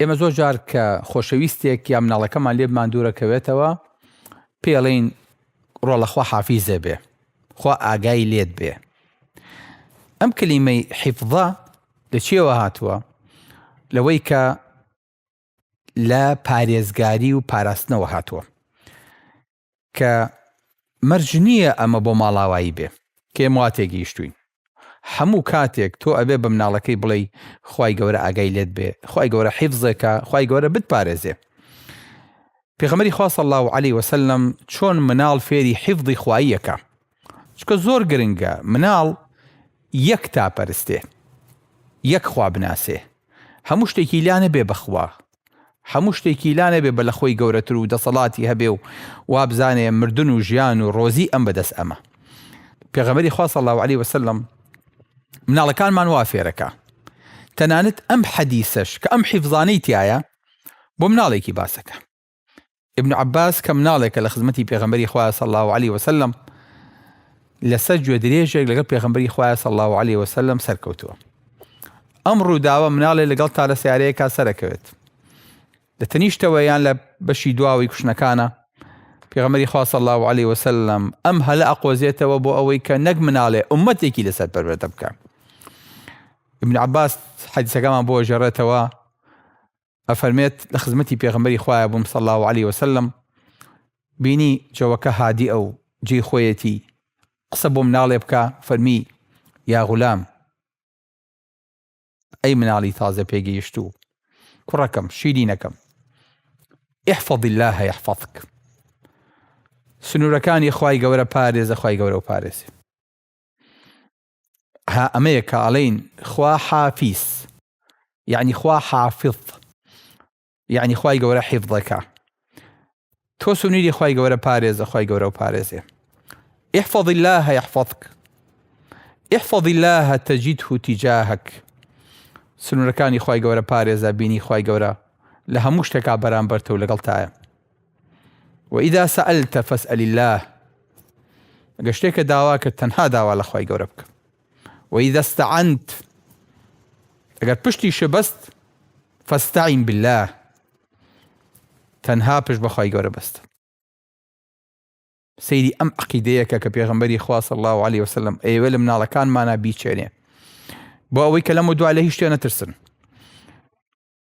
ئێمە زۆر جار کە خۆشەویستێک یا مناڵەکەمان لێبمان دوورەکەوێتەوە پێڵین ڕۆڵە خوا حافیزێ بێ خوا ئاگای لێت بێ ئەم کلیمەی حیفضە لە چێوە هاتووە لەوەی کە لە پارێزگاری و پاراستنەوە هاتووە کە مەرج نییە ئەمە بۆ ماڵاوایی بێ. کێم وا تێگەیشتووین هەموو کاتێک تۆ ئەبێ بە مناڵەکەی بڵێی خوای گەورە ئاگای لێت بێ خوای گەورە حیفزێکە خوای گەورە بتپارێزێ پێغەمەری خوا صلی اللە علیه وسلم چۆن مناڵ فێری حیفزی خواییەکە چونکە زۆر گرنگە مناڵ یەک تا پەرستێ یەک خوا بناسێ هەموو شتێکی لا نەبێ بەخوا هەموو شتێکی لا نەبێ بە لەخۆی گەورەتر و دەسەڵاتی هەبێ و وابزانێ مردن و ژیان و ڕۆزی ئەم بەدەست ئەمە پێغەمەری خوا صلی الله علیه وسلم مناڵەکانمان وا فێرەکە تەنانەت ئەم حەدیسەش کە ئەم حیفزانەی تایە بۆ مناڵێکی باسەکە ابن عباس کە مناڵێکە لە خزمەتی پێغەمبەری خوایە صلی الله علیه وسلم لەسەر گوێ درێژێک لەگەڵ پێغەمبەری خوایە صلی الله علیه وسلم سەرکەوتووە ئەم ڕووداوە مناڵێ لەگەڵ تا لە سیارەیەکە سەرەکەوێت لە تەنیشتەوە یان لە بەشی دواوەی کوشنەکانە پێغەمەری خوا صلی الله عليه وسلم ئەم هەلە ئەقۆزێتەوە بۆ ئەوەی کە نەک مناڵێ ئومەتێکی لەسەر پەروەردە بکە ابن عباس حەدیسەکەمان بۆ ژەڕێتەوە ئەفەرمێت، لە خزمەتی پێغەمبەری خوایە بووم صلی اللە علیە وسلم بینی جەوەکە هادیئە و جێی خۆیەتی، قسە بۆ مناڵێ بکا، فەرمی، یا غولام، ئەی مناڵی تازە پێگەیشتوو، کوڕەکەم، شیرینەکەم، احفظ اللە یحفظک، سنوورەکانی خوای گەورە پارێزە خوای گەورە ئەوپارێزێ. ها ئەمەیە کە ئەڵێین خوا حافیز یعنی خوا حافظ یعنی خوای گەورە حیفظەکە تۆ سنووری خوای گەورە پارێزە خوای گەورە و پارێزێ احفظ الله يحفظك احفظ الله تجده تجاهك سنوورەکانی خوای گەورە پارێزە بینی خوای گەورە لە هەموو شتێکا بەرامبەرتە و لەگەڵ تایە وإذا سألت فاسأل اللە، گەر شتێکە داوا کرد تەنها داوا لە خوای گەورە بکە. وإذا استعنت، ئەگەر پشتی شبەست فاستعن باللە، تەنها پشت بە خوای گەورە بەستە. سەیری ئەم عەقیدەیەکە کە پێغەمبەری خوا صلی الله علیه وسلم ئەیەوێ لە مناڵەکانمانا بیچێنێ بۆ ئەوەی کە لەم و دوا لە هیچ شتێ نەترسن.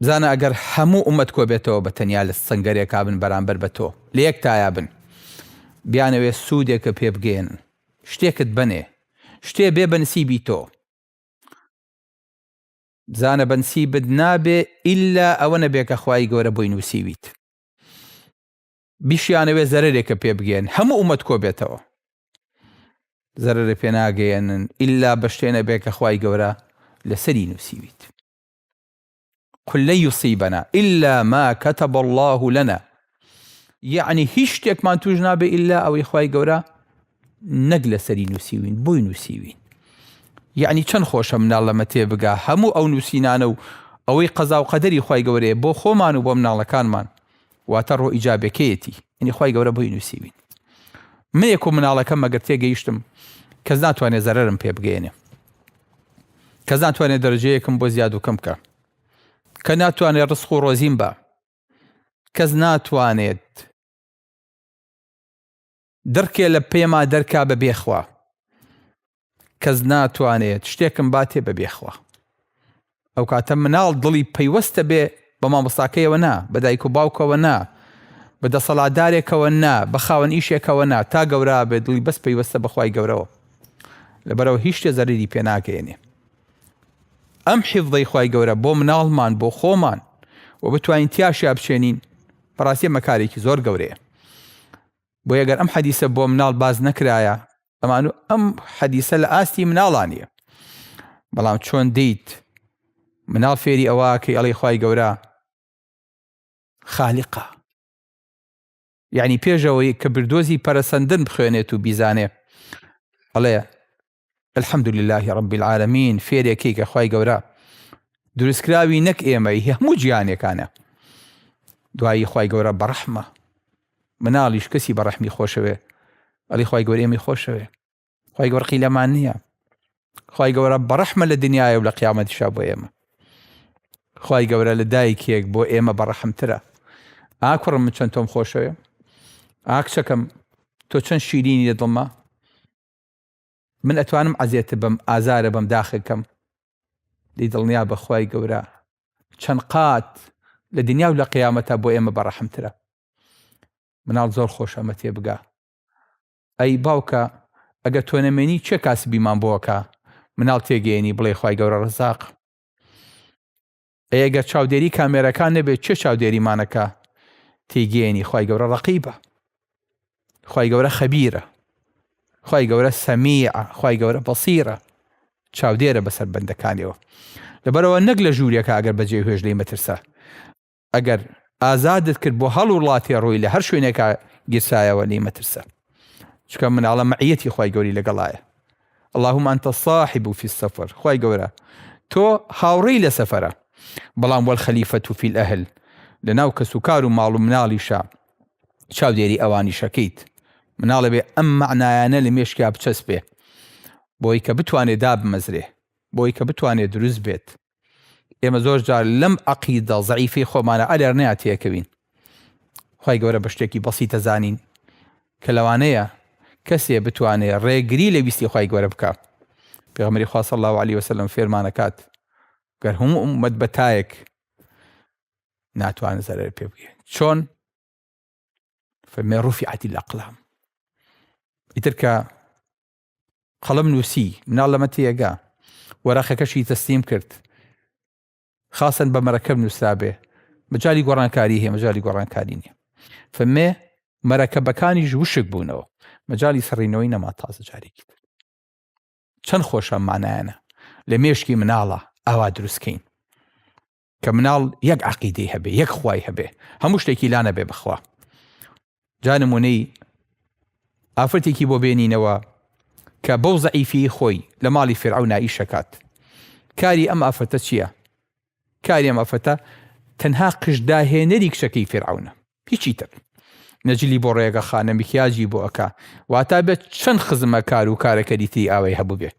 بزانە ئەگەر هەموو ئومەت کۆبێتەوە بە تەنیا لە سەنگەرێکا بن بەرامبەر بە تۆ لە یەک تایا بن بیانەوێ سودێکە پێ بگەیەنن شتێکت بەنێ شتێ بێ بە نسیبی تۆ بزانە بە نسیبت نابێ ئیلا ئەوە نەبێ کە خوای گەورە بۆی نووسیویت بیشیانەوێ زەرێکە پێ بگەن هەموو ئومەت کۆبێتەوە زەرەرە پێناگەیەنن ئللا بەشتێنە بێ کە خی گەورە لەسەری نووسیویت قل لن يصيبنا الا ما كتب الله لنا یعنی هیچ شتێکمان توش نابێ ئللا ئەوەی خی گەورە نەک لەسەری نووسیوین بۆی نووسیوین یعنی چەند خۆشە مناڵ لەمە تێبگا هەموو ئەو نووسینانە و ئەوەی قەزا و قەدەری خی گەورەیە بۆ خۆمان و بۆ مناڵەکانمان واتە ڕۆ ئیجابەکەیەتی یعنی خوای گەورە بۆی نوسیوین منێک و مناڵەکەم مەگەر تێگەیشتم کەس ناتوانێت زەرەرم پێ بگەێنێ کەس ناتوانێت دەرجەیەکم بۆ زیاد و کەم کە کە ناتوانێت ڕسخ و ڕۆزیم بە کەس ناتوانێت دڕکێ لە پێما دەرکا بە بێ خوا. کەس ناتوانێت شتێکم باتێ بە بێ خوا. ئەو کاتە مناڵ دڵی پەیوەستە بێ بە مامۆستاکەیەوە نا بە دایک و باوکەوە نا بە دەسەڵاتدارێکەوە نا بە خاوەن ئیشێکەوە نا تا گەورا بێ دڵی بەس پەیوەستە بەخوای گەورەوە لەبەرەوە هیچ شتێ زەریری پێناگەێنێ ئەم حیفدەی خی گەورە بۆ مناڵمان بۆ خۆمان و بتوانین تیاشیا بچێنین بەڕاستی مەکارێکی زۆر گەورەیە بۆیە گەر ئەم حەدیسە بۆ مناڵ باز نەکرایە ئەمان و ئەم حەدیسە لە ئاستی مناڵانە بەڵام چۆن دیت مناڵ فێری ئەوە کە ئەڵی خی گەورە خالیقا یعنی پێشەوەی کە بردۆزی پەرسەندن بخوێنێت و بیزانێ ئەڵێ الحمد للە رب العالمین فێرێکی کە خوای گەورە دروستکراوی نەک ئێمەی هەموو جیانەکانە دوایی خی گەورە بەڕەحمە مناڵیش کەسی بەڕەحمی خۆشەوێ ئەلی خی گەور ئێمی خۆشەوێ خی گەورقی لەمان نییە خی گەورە بەڕەحمە لە دنیاە و لە قیامەتیشا بۆ ئێمە خی گەورە لە دایکێک بۆ ئێمە بەڕەحمترە ئاکوڕم من چەند تۆم خۆشەوێ ئاکچەکەم تۆ چەند شیرینی لە دڵما من ئەتوانم عەزێت بم ئازارە بم داخەکەم لی دڵنیا بە خوای گەورە چەند قات لە دنیا و لە قیامەتە بۆ ئێمە بەڕەحمترە مناڵ زۆر خۆش ئەمە تێ بگا ئەی باوکە ئەگە تۆنەمێنی چێ کاسبیمان بۆکە مناڵ تێگەێنی بڵێ خی گەورە ڕزاق ئەی گەر چاودێری کامێرەکان نەبێت چێ چاودێریمانەکە تێگەێنی خی گەورە ڕقیبە خی گەورە خەبیرە خی گەورە سەمیە خی گەورە بەسیرە چاودێرە بەسەر بەندەکانیەوە لەبەرەوە نەک لە ژوورەکە ئەگەر بەجێ هێش لی مەترسە ئەگەر ئازادت کرد بۆ هەڵ وڵاتی ڕووی لە هەر شوێنێکە گیرسایەوە لی مەترسە چکە مناڵە مەعەتی خی گەوری لەگەڵایە اللهم انت الصاحب فی السفر خوای گەورە تۆ هاوڕێی لە سەفەرە بەڵام والخلیفە فی الاهل لەناو کەس و کار و ماڵ و مناڵیشا چاودێری ئەوانیشەکەیت مناڵە بێ ئەم مەعنایانە لە مێشکیا بچەسپێ بۆی کە بتوانێ دابمەزرێ بۆی کە بتوانێ دروست بێت ئێمە زۆر جار لەم عەقیدە زەعیفەی خۆمانە ئەلێرنەیا تێکەوین خوای گەورە بە شتێکی بەسیتە زانین کە لەوانەیە کەسێ بتوانێ ڕێگری لە ویستی خوای گەورە بکا پێغمەری خوا صلی الله علیه وسلم فێرمانەکات گەر هەموو ئومەت بە تایەک ناتوان زەرەر پێ بگێ چۆن فەرمێ ڕوفی عەتی لە قلام ئیتر کە قەڵەم نووسی، مناڵەمە تێگا. وەرەقەکەشی تەسلیم کرد. خاصەن بە مەرەکەب نووسرابێ. مەجالی گۆڕانکاری هەیە، مەجالی گۆڕانکاری نییە. فەمێ مەرەکەبەکانیش وشک بوونەوە. مەجالی سڕینەوەی نەما تازە جارێکی تر. چەند خۆشە مانایانە لە مێشکی مناڵە ئاوا دروستکەین. کە مناڵ یەک عقیدەی هەبێ یەک خوای هەبێ هەموو شتێکی لا نەبێ بخوا جا نمونەی ئافرەتێکی بۆ بێنینەوە کە بەو زەعیفی خۆی لە ماڵی فرعە و نائیشەکات کاری ئەم ئافرەتە چییە؟ کاری ئەم ئافرەتە تەنها قشداهێنەری کچەکەی فرعونە هیچی تر نەجلی بۆ ڕێگە خانە میکیاجی بۆ ئەکا واتا بێت چەند خزمە کار و کارەکەری تری ئاوای هەبوو بێت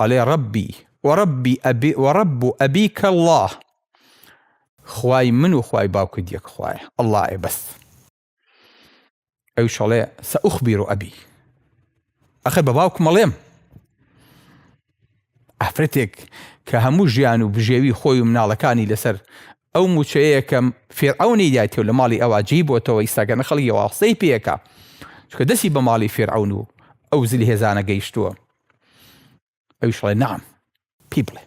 ئەڵێ ڕەبی وەڕەبی ئەبی وەڕەب و ئەبیکە اللە خوای من و خوای باوکت یەک خوایە اللە ئێ بەس ئەویش ئەڵێ سەئوخبیر و ئەبی ئەخر بە باوکم ئەڵێم ئافرەتێک کە هەموو ژیان و بژێوی خۆی و مناڵەکانی لەسەر ئەو موچەیە کە فیرعەونی دایتێ و لە ماڵی ئەوا جێی بۆتەوە ئیستا گەنە خەڵک یەوا قسەی پێکا چونکە دەستی بە ماڵی فیرعەون و ئەو زل هێزانە گەیشتووە ئەویش ڵێ نعم پی بڵێ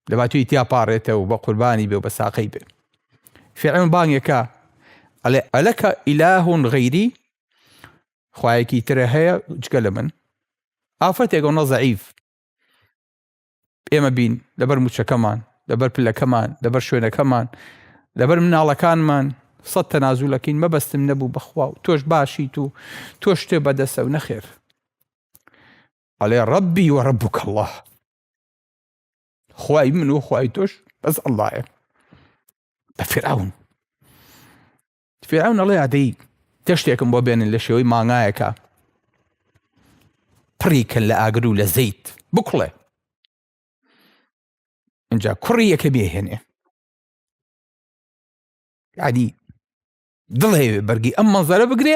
لەبا توی تیا پاڕێتەوە بە قوربانی بێ و بە ساقەی بێ فیرعەون بانگێکە ئەلێ ئەلەکە ئیلاهون غەیری خوایەکی ترە هەیە جگە لە من ئافرەتێک ئەو نەزەعیف ئێمە بین، لەبەر موچەکەمان، لەبەر پلەکەمان، لەبەر شوێنەکەمان، لەبەر مناڵەکانمان سەد تەنازولەکەین، مەبەستم نەبوو بەخوا و تۆش باشیت و تۆش شتێ بەدەسە و نەخێر. ئەڵێ ڕەبی و ڕەبوک الله خوای من و خوای تۆش بەس اللهە بە فراون فیرعەون ئەڵێ ئادەی گەشتێکم بۆ بێنن لە شێوەی مانگایەکە پڕی کەن لە ئاگر و لە زەیت بکڵێ اینجا کوڕی یەکە بێهێنێ عادی دڵێ بەرگی ئەم مەزارە بگرێ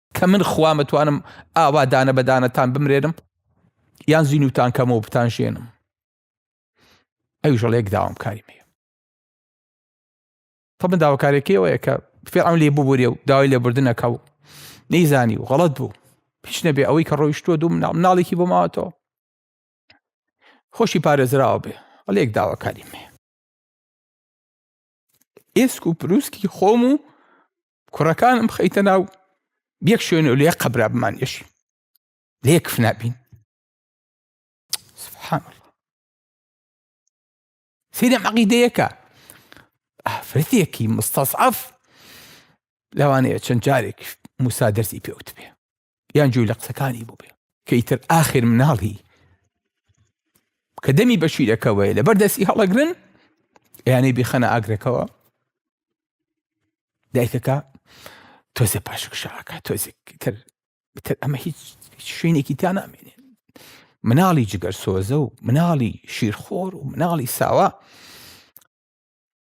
کە من خوام ئەتوانم ئاوا دانە بە دانەتان بمرێنم یان زینوتان کەمەوە بتان ژێنم ئەویش ڵێک داوام کاری مێ طبعا داواکارێکی ئەوەیە کە فێرعون لێ ببورێ و داوای لێبوردنەکە و نەیزانی و غەڵت بوو پیش نەبێ ئەوەی کە ڕۆیشتووە دوو مناڵ مناڵێکی بۆ ماوەتەوە خۆشی پارێزراوە بێ ڵێک داواکاری مێ ئێسک و پرووسکی خۆم و کوڕەکانم خەیتە ناو یەک شوێن و لێ قەبرا بمان یەشی لێک فنابین سبحان الله سیدە عقیدەیەکە ئافرەتێکی مستەسعف لەوانەیە چەند جارێک موسا دەرسی پێوت بێ یان جوی لە قسەکانی بووبێ کە ئیتر ئاخر مناڵی کە دەمی بە شیرەکەوەی لەبەر دەستی هەڵەگرن یانەی بیخەنە ئاگرەکەەوە دایکەکە تۆزێ پاشکشاکە تۆزێک تر تر ئەمە هیچ شوێنێکی تا نامێنێ مناڵی جگەر سۆزە و مناڵی شیرخۆر و مناڵی ساوا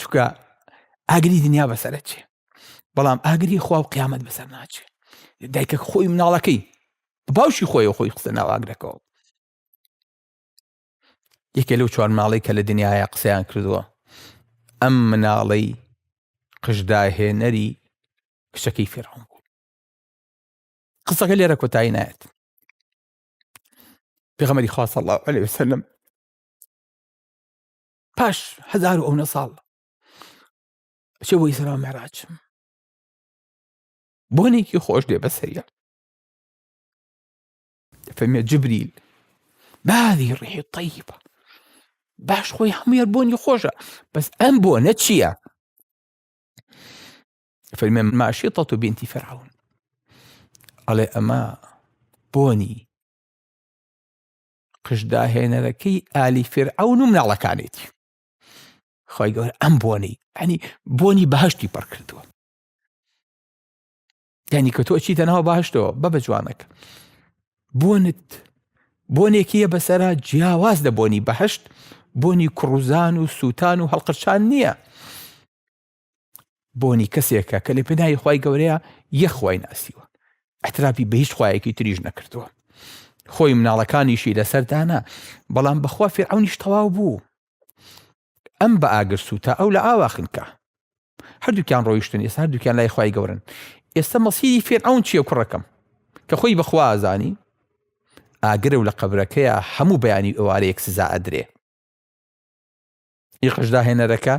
چکە ئاگری دنیا بەسرە چێ بەڵام ئاگری خوا و قیامەت بەسەر ناچێ دایکە خۆی مناڵەکەی باوشی خۆی خۆی قسە ناواگرەکەەوە یەکێ لەو چوار ماڵی کە لە دنیاە قسەیان کردووە ئەم مناڵەی قژداهێنەری کچەکەی فێڕۆن بوو قسەکە لێرە کۆتایی نایەت پێغەمەری خواصە الله عليه وسلم پاش هزار و ئەونە ساڵ چێ بۆ ئیسرا مەراج بۆنێکی خۆش دێ بەسەریە فەرمێ جبریل بادی ڕیحی طیبە باش خۆی هەموار بۆنی خۆشە بەس ئەم بۆ نە چییە فەرمێ ماشی تەت و بینتی فراون ئەڵێ ئەمە بۆنی قژ داهێنەرەکەی ئالی فرعون و مناڵەکانێتی خۆی گەور ئەم بۆنی ئەنی بۆنی بەهشتی پڕ کردووە یعنی کە تۆ چیتە ناوە باشتەوە بە بە جوانەکە بۆنت بۆنێکیە بەسرە جیاواز لە بۆنی بەهشت بۆنی کوڕوزان و سووتان و هەڵقرچان نییە بۆنی کەسێکە کە لە پێناوی خی گەورەیە یەک خی ناسیوە ئەترافی بە هیچ خوایەکی تریش نەکردووە خۆی مناڵەکانیشی لەسەردانە بەڵام بەخوا فێعونیش تەواو بوو ئەم بە ئاگرسو تا ئەو لە ئاواخنکە هەردووکیان ڕۆیشتن ئێستا هەردووکیان لای خی گەورن ئێستا مەسیری فێرعون چییە کوڕەکەم کە خۆی بەخوازانی ئاگرە و لە قەبرەکەیە هەموو بەیانی ئەوارەیەک سزا ئەدرێ یقش داهێنەرەکە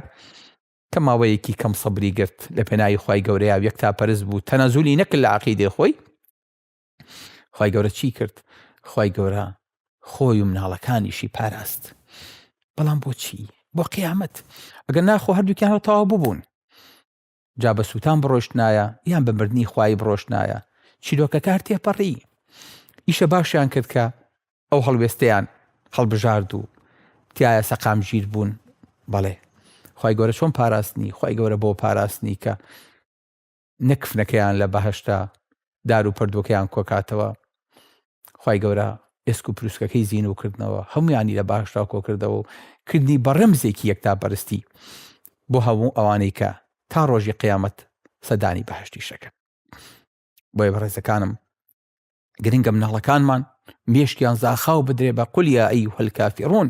کە ماوەیەکی کەم سەبری گرت لە پێناوی خی گەورەیە و یەک تا پەرست بوو تەنەزولی نەکرد لە عقیدێ خۆی خی گەورە چی کرد خی گەورە خۆی و مناڵەکانیشی پاراست بەڵام بۆچی بۆ قیامەت ئەگەر ناخۆ هەردووکیان هەتاوا ببوون جا بە سووتان بڕۆشتنایە یان بە مردنی خوایی بڕۆشتنایە، چیرۆکەکار تێپەڕی. ئیشە باشیان کرد کە ئەو هەڵوێستەیان هەڵبژارد و تایە سەقامگیر بوون. بەڵێ، خوای گەورە چۆن پاراستنی؟ خوای گەورە بۆ پاراستنی کە نە کفنەکەیان لە بەهەشتە دار و پەردووەکەیان کۆکاتەوە خوای گەورە ئێسک و پروسکەکەی زین و کردنەوە هەمویانی لە باشدا کۆکردەوە و کردنی بەڕمزێکی یەکتا بەرستی بۆ هەموو ئەوانەی کە تا ڕۆژی قیامەت سەدانی بەهشتی شەکەن بۆیە بەڕێزەکانم گرنگە مناڵەکانمان مێشکیان زاخاو بدرێ بە قولیا ئەی هەلکافیڕون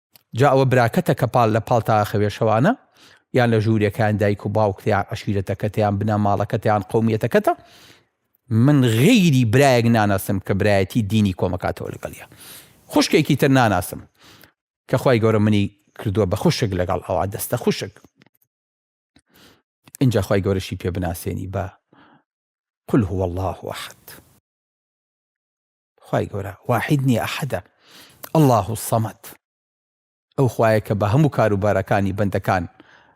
جا ئەوە براکەتە کە پاڵ لە پاڵ تاخە وێشەوانە، یان لە ژوورێکەیان دایک و باوکت یان عەشیرەتەکەتە یان بنەماڵەکەتە یان قەومیەتەکەتە، من غەیری برایەک ناناسم کە برایەتی دینی کۆمەکاتەوە لەگەڵیا. خوشکێکی تر ناناسم کە خوای گەورە منی کردووە بە خوشک لەگەڵ ئەوا دەستە خوشک. ئینجا خوای گەورەشی پێ بناسێنی بە قل هو الله احد. خوای گەورە واحید نیە ئەحەدە اللە الصمد ئەو خوایە کە بە هەموو کارو بارەکانی بەندەکان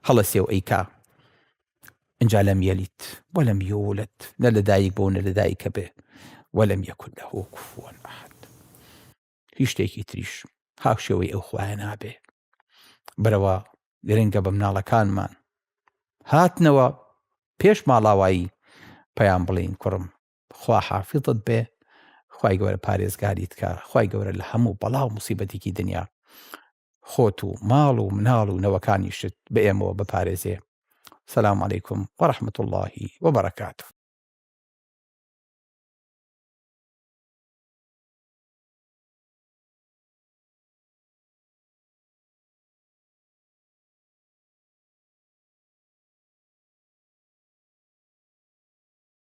هەڵەسێ و ئەیکا ئینجا لەم یەلید وەلەم یولد نە لە دایک بوو نە لە دایکە بێ وەلەم یەکون لەهو کفوەن ئەحەد هیچ شتێکی تریش هاوشێوەی ئەو خوایە نابێ برەوە گرنگە بە مناڵەکانمان هاتنەوە پێش ماڵاوایی پەیام بڵێین کوڕم خوا حافیزت بێ خوای گەورە پارێزگاریت کا خوای گەورە لە هەموو بەڵاو موسیبەتێکی دنیا خۆت و ماڵ و مناڵ و نەوەکانیشت بە ئێمەوە بپارێزێ سلام علیکم وەرحمت اللهی وبرکاته